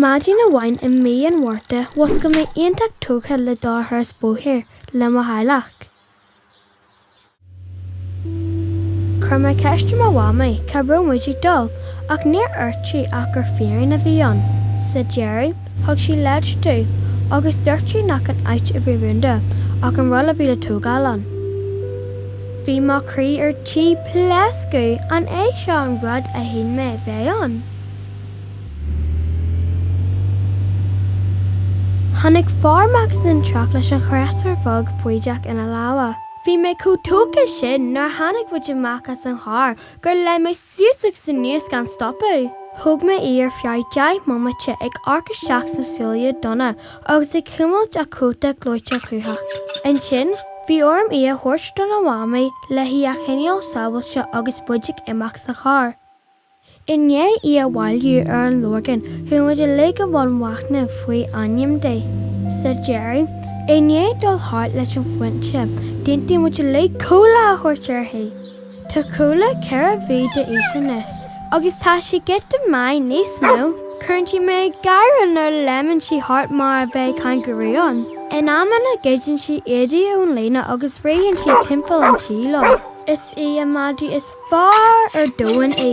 Maidin amháin i mí an Mhárta mhuscail mé iontach tógtha le dul ar thuras bóthair le mo theaghlach. Chuir mé ceist ar mo mhamaí cá raibh muid ag dul ach níor dhúirt sí ach gur fíor-rún a bhí ann. Sa deireadh, Thug sí leid domh agus dúirt sí nach an áit a bhí rúnda ach an rud a bhí le tógáil ann. Bhí mo chroí ar tí pléascadh, an é seo an rud a shíl mé a bheadh ann? Tháinig fear amach as an teach leis an chréatúr bheag faiteach ina lámha. Bhí mé chomh tógtha sin nuair a tháinig muid amach as an charr gur léim mé suas agus anuas gan stopadh. Thóg mé í ar feadh deich mbomaite ag amharc isteach sna súile donna agus ag cuimilt a cóta gleoite chruthach. Ansin, bhí orm í a thabhairt do mo mhamaí le hí a choinneáil sábháilte agus muid ag imeacht sa charr. I ndiaidh í a bhailiú ar an Lorgain chuaigh muid uilig i mbun machnaimh faoi ainm di. Sa deireadh, i ndiaidh dul thart leis an phointe, d'aontaigh muid uilig Cúla a thabhairt uirthi! Tá Cúla ceithre mhí d'aois anois agus tá sí giota maith níos mó. Cuireann sí mé ag gáire nuair a léimeann sí thart mar a bheadh cangarú ann. In amanna goideann sí éadaí ón líne agus rítheann sí timpeall an tí leo. Is í an madadh is fearr ar domhan í.